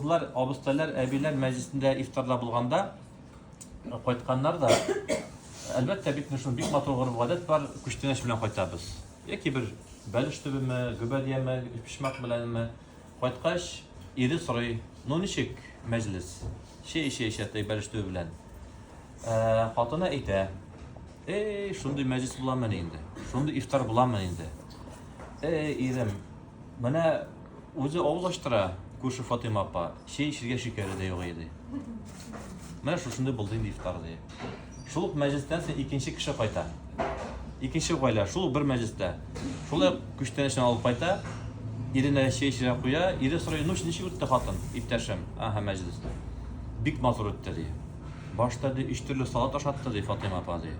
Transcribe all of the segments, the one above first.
Олылар, абыстайлар, әбиләр мәҗлесендә ифтарда булганда, кайтканнар да, әлбәттә, бит менә шуның бик матур гореф-гадәт бар, күчтәнәч белән кайтабыз. Яки бер бәлеш төбеме, гөбәдияме, өчпочмак беләнме. Кайткач, ире сорый, Ну, ничек мәҗлес? Чәй эчә-эчә теге бәлеш төбе белән. Хатыны әйтә, Эй, шундый мәҗлес буламыни инде? Шундый ифтар буламыни инде? Эй, ирем, менә Үзе авыллаштыра, күрше Фатыйма апа, чәй эчергә шикәре дә юк иде. Менә шушындый булды инде ифтар, ди. Шул ук мәҗлестән соң икенче кеше кайта. Икенче гаилә, шул ук бер мәҗлестә. Шулай ук күчтәнәчен алып кайта, иренә чәй эчерә куя, ире сорый, ну, ничек үтте хатын, иптәшем? Ага, мәҗлес. Бик матур үтте, ди. Башта ди өч төрле салат ашатты, ди Фатыйма апа, ди.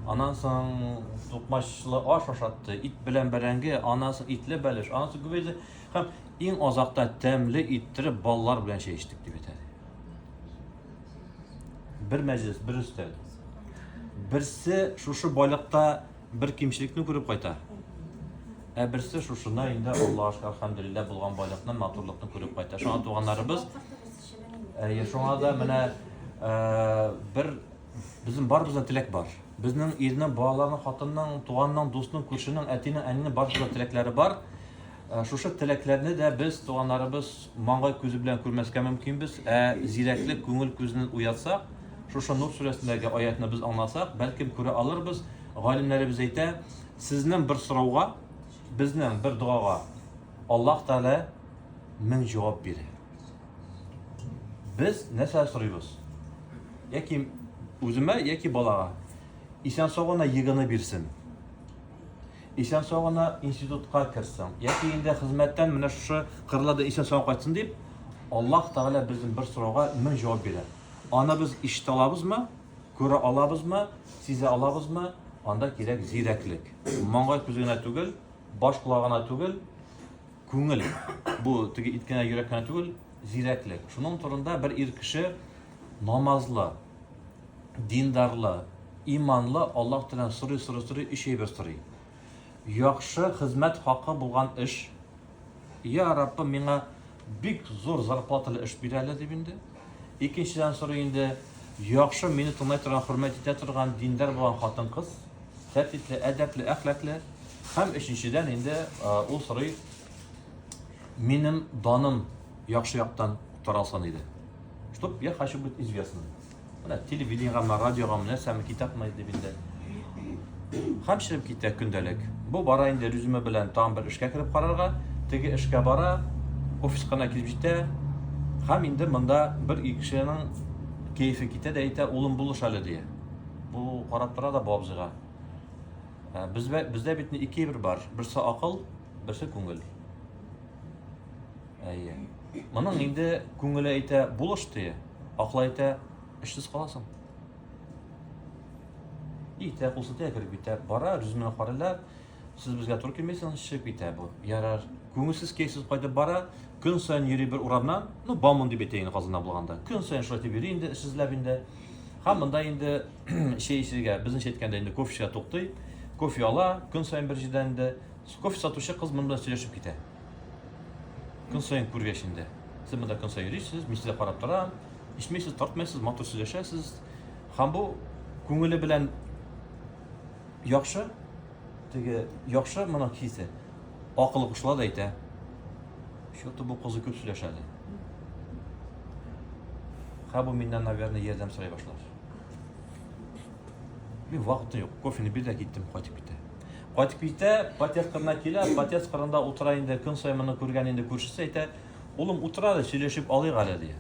Анан соң тукмачлы аш ашатты, ит белән бәрәңге, анан соң итле бәлеш, анан соң күбәйде. Һәм иң азакта тәмле иттереп балалар белән чәй эчтек дип әйтә. Бер мәҗлес, бер өстәл. Берсе шушы байлыкта бер кимчелекне күреп кайта. Ә берсе шушына инде Аллаһка хәмдүлилләһ булган байлыкны, матурлыкны күреп кайта. Шуңа туганнарыбыз Әйе, шуңа да менә бер безнең барыбызда теләк бар. Безнең ирнең, балаларның, хатынның, туганның, дустның, күршенең, әтинең, әнинең барыбызда теләкләре бар. Шушы теләкләрне дә без туганнарыбыз маңгай күзе белән күрмәскә мөмкинбез. Ә зирәклек күңел күзен уятсак, шушы Нур сүрәсендәге аятны без аңласак, бәлкем күрә алырбыз. Галимнәребез әйтә, сезнең бер сорауга, безнең бер догага Аллаһ Тәгалә мең җавап бирә. Без нәрсә сорыйбыз? Яки үземә, яки балага. Исән сау гына егыны бирсен. Исән сау гына институтка керсен. Яки инде хезмәттән менә шушы кырларда исән сау кайтсын дип, Аллаһ Тәгалә безнең бер сорауга мең җавап бирә. Аны без ишетә алабызмы? Күрә алабызмы? Сизә алабызмы? Анда кирәк зирәклек. Маңгай күзе генә түгел, баш була гына түгел, күңел, бу теге ит кенә, йөрәк кенә түгел, зирәклек. Шуның турында бер ир кеше намазлы, диндарлы, иманлы Аллаһ Тәгаләдән сорый, сорый, сорый, өч әйбер сорый. Яхшы хезмәт хакы булган эш. Я Раббым, миңа Бик зур зарплаталы эш бирә әле дип инде. Икенчедән сорый инде, яхшы, мине тыңлай торган, хөрмәт итә торган, диндар булган хатын-кыз, тәртипле, әдәпле, әхлаклы. Һәм өченчедән инде ул сорый, минем даным яхшы яктан таралсын иде. Чтоб я хочу быть известным. Менә телевидениегәме, радиогамы, нәрсәме, китапмы дип инде. Хәм чыгып китә көндәлек. Бу бара инде резюме белән тагын бер эшкә кереп карарга. Теге эшкә бара, офиска гына килеп җитә. Хәм инде монда бер ике кешенең кәефе китә дә әйтә, улым булыш әле дия. Бу карап тора да бу абзыйга. Ә, Бездә бездә бит ни ике бер бар. Берсе акыл, берсе күңел. Әйе. Моның инде күңеле әйтә, булыш дия. Аклай итә, эшсез каласың. Итә, кул сытыя кереп китә. Бара, режимына карыйлар. Сез безгә туры килмисең, чыгып китә бу. Ярар. Күңелсез кейсез кайтып бара. Көн саен йөри бер урамнан. Ну, бамон дип әйтә инде Казанда булганда. Көн саен шулай дип йөри инде, эшсезләп инде. Һәм монда инде чәй эчергә, безнеңчә әйткәндә инде кофечка туктый. Кофе ала, көн саен бер җирдән инде. Кофе сатучы кыз монда сөйләшеп китә. Көн саен күргәч инде. Сез монда көн саен йөрисез, мин сезгә карап торам. Ичмәйсез, тартмайсыз, матур сөйләшәсез. Һәм бу күңеле белән яхшы, теге яхшы моның хисе. Акылы кушыла да әйтә. Что-то бу кызы күп сөйләшә әле. Хәбу миннән, наверное, ярдәм сорый башлар. Мин вакыты юк. Кофены бир дә киттем, кайтып китә. Кайтып китә, подъезд кырына килә, подъезд кырында утыра инде, көн саен моны күргән инде күршесе әйтә, улым утыра әле, сөйләшеп алыйк әле ди.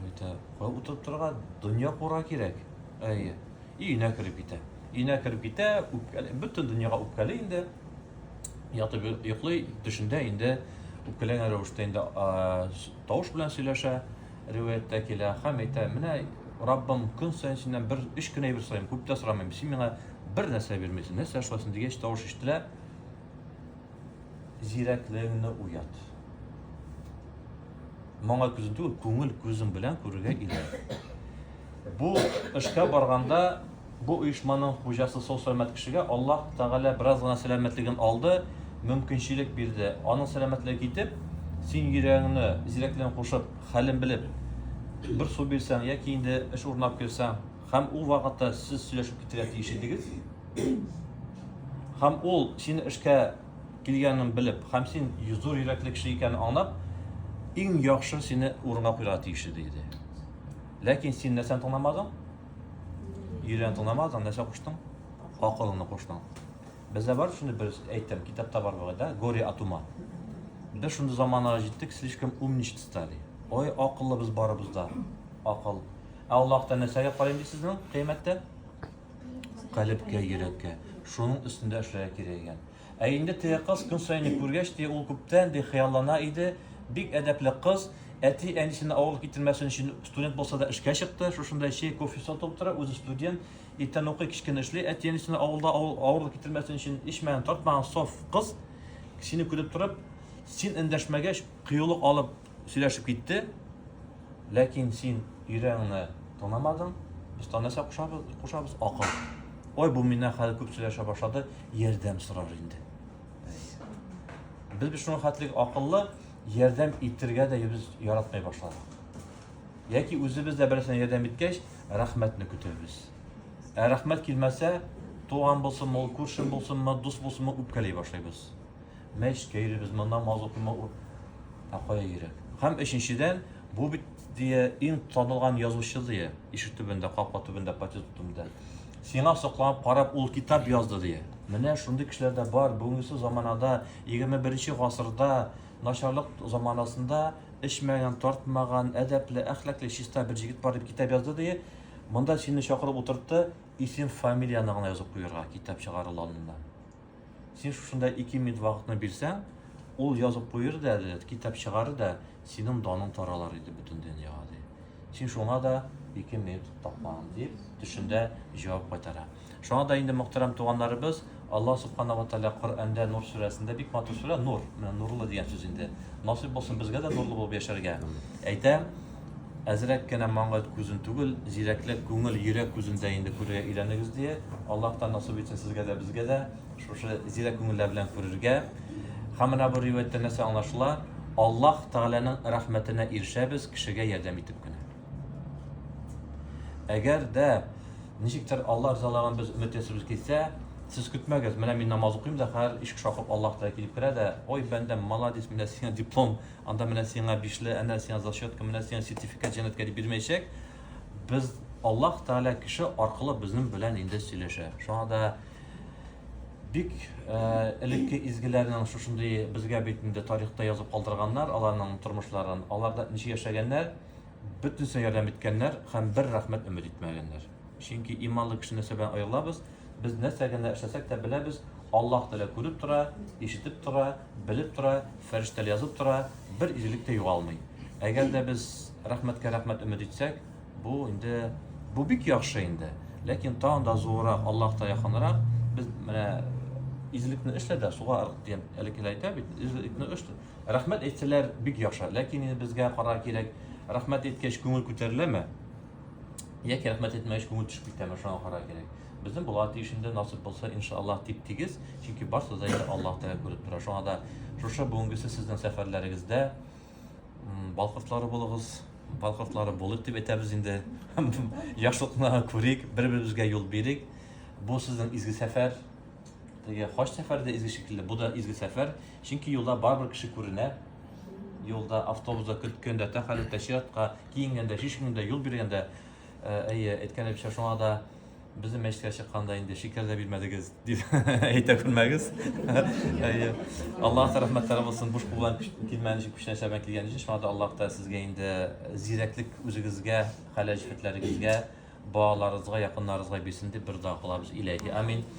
Әйтә, кая утырып торырга, дөнья кура кирәк. Әйе. Өенә кереп китә. Өенә кереп китә, үпкәле, бөтен дөньяга үпкәле инде. Ятып йоклый, төшендә инде үпкәләгән рәвештә инде тавыш белән сөйләшә. риваятьтә килә, хәм әйтә, Менә Раббым, көн саен синнән бер өч кенә әйбер сорыйм, күп тә сорамыйм, син миңа бер нәрсә бирмисең, нәрсә шулай соң дигәч, тавыш ишетелә, Зирәклегеңне уят. Моңа күзен түгел, күңел күзең белән күрергә иде. Бу эшкә барганда Бу оешманың хуҗасы сау-сәламәт кешегә Аллаһ Тәгалә бераз гына сәламәтлеген алды, мөмкинчелек бирде. Аның сәламәтлеге китеп, син йөрәгеңне зирәклеген кушып, хәлен белеп, бер су бирсәң яки инде эш урынлап керсәң, һәм ул вакытта сез сөйләшеп китәргә тиеш идегез. Һәм ул, синең эшкә килгәнен белеп, һәм син зур йөрәкле кеше икәнен аңлап, иң яхшы сине урынга куярга тиеш иде иде. Ләкин син нәрсәне тыңламадың? Йөрән тыңламадың, нәрсә куштың? Акылыңны куштың. Бездә бар шундый бер әйтем, китапта бар бугай да, горе от ума. Без шундый заманага җиттек, слишком умничать стали. Ой, акыллыбыз барыбыз да. Акыл. Ә Аллаһта нәрсәгә карыйм ди сезнең кыямәттә? Калебкә, йөрәккә. Шуның өстендә эшләргә кирәк икән. Ә инде теге кыз көн саен күргәч, ди, ул күптән, ди, хыяллана иде. Бик әдәпле кыз, әти-әнисенә авырлык китермәсен өчен, студент булса да эшкә чыкты, шушында чәй, кофе сатып утыра, үзе студент, иртән укый, кич кенә эшли, әти-әнисенә авылда авырлык китермәсен өчен, эчмәгән, тартмаган саф кыз, сине күреп торып, син эндәшмәгәч, кыюлык алып, сөйләшеп китте, ләкин син өйрәңне танамадың, без танаса кушабыз, кушабыз акыл. Ой, бу миннән хәзер күп сөйләшә башлады, ярдәм сорар инде. Без бит шуның хәтлек акыллы, ярдәм итергә дә без яратмый башладык. Яки үзебез дә берсенә ярдәм иткәч, рәхмәтне көтәбез. Ә рәхмәт килмәсә, туган булсынмы, ул күршем булсынмы, дус булсынмы, үпкәли башлыйбыз. Мәч кәйлебез моннан маз укыма ут. Ә кая йөрәк? Һәм өченчедән, бу бит дия иң танылган язучы дия. Ишек төбендә, капка төбендә, патет төбендә. Сиңа сокланып карап ул китап язды дия. Менә шундый кешеләр дә бар. Бүгенге заманада, 21 гасырда, начарлык заманасында эчмәгән, тартмаган, әдәпле, әхлакле, чиста бер җигет бар дип китап язды дия. Монда сине чакырып утыртты, исем, фамилияне гына язып куярга, китап чыгарылу алдыннан. Син шушында ике минут вакытны бирсәң, ул язып куер да әле, китап чыгарыр да, синең даның таралыр иде бөтен дөньяга, ди. Син шуңа да ике минут тапмаган, дип, төшендә җавап кайтара. Шуңа да инде, мөхтәрәм туганнарыбыз, Аллаһ Субхана ва Тәгалә Коръәндә Нур сүрәсендә бик матур сүрә, нур, менә нурлы дигән сүз инде. Насыйп булсын безгә дә нурлы булып яшәргә. Әйтә, Әзрәк кенә маңгайт күзен түгел, зирәкләп күңел, йөрәк күзен дә инде күрергә өйрәнегез, дие. Аллаһтан насыйп итсен сезгә дә, безгә дә шушы зирәк күңелләр белән күрергә. Һәм менә бу риваятьтән нәрсә аңлашыла? Аллаһ Тәгаләнең рәхмәтенә ирешәбез кешегә ярдәм итеп кенә. Әгәр дә ничектер Аллаһ ризалыгын без өмет ясыйбыз килсә, сез көтмәгез, менә мин намаз укыйм да, хәзер ишек шакып Аллаһ Тәгалә килеп керә дә, ой, бәндәм, молодец, менә сиңа диплом, Анда менә сиңа бишле, әнә сиңа зачетка, менә сиңа сертификат җәнәткә дип бирмәячәк. Без Аллаһ Тәгалә кеше аркылы безнең белән инде сөйләшә. Шуңа да бик э, элекке изгеләрнең шушындый безгә бит инде тарихта язып калдырганнар аларның тормышларын, аларда ничек яшәгәннәр, бөтенесенә ярдәм иткәннәр һәм бер рәхмәт өмет итмәгәннәр. Чөнки иманлы кешене сәбән аялабыз, без нәрсә генә эшләсәк тә беләбез, Аллаһ Тәгалә күреп тора, ишетеп тора, белеп тора, фәрештәләр язып тора, бер изгелек тә югалмый. Әгәр дә без рәхмәткә рәхмәт өмет итсәк, бу инде бу бик яхшы инде. Ләкин тагын да зуррак, Аллаһка якынрак без менә изгелекне эшлә дә суга ыргыт дигән әле әйтә бит. Изгелекне эш рәхмәт әйтсәләр бик яхшы. Ләкин безгә кара кирәк, рәхмәт әйткәч күңел күтәреләме? яки рәхмәт әйтмәгәч күңел төшеп китәме шуңа карар кирәк безнең була тиешендә насыйп булса иншаллаһ тип тигез чөнки барысы да инде аллаһ тәгалә күреп тора шуңа да шушы бүгенгесе сезнең сәфәрләрегездә балкыртлары булыгыз балкыртлары булыйк дип әйтәбез инде яхшылыкны күрик бер беребезгә юл бирик бу сезнең изге сәфәр теге хаҗ сәфәре дә изге шикелле бу да изге сәфәр чөнки юлда барыбер кеше күренә юлда автобуста көткәндә тәхәлләтә чиратка киенгәндә, чишенгәндә, юл биргәндә, әйе, әйткәнебезчә, шуңа да безнең мәчеткә чыкканда инде шикәр дә бирмәдегез, дип әйтә күрмәгез. Әйе. Аллаһ та рәхмәтләре булсын, буш кул белән килмәгән өчен, күчтән чәбән килгән өчен, шуңа да Аллаһ та сезгә инде зирәклек үзегезгә, хәләл җефетләрегезгә, балаларыгызга, якыннарыгызга бирсен дип бер дога кылабыз. Иләһи амин.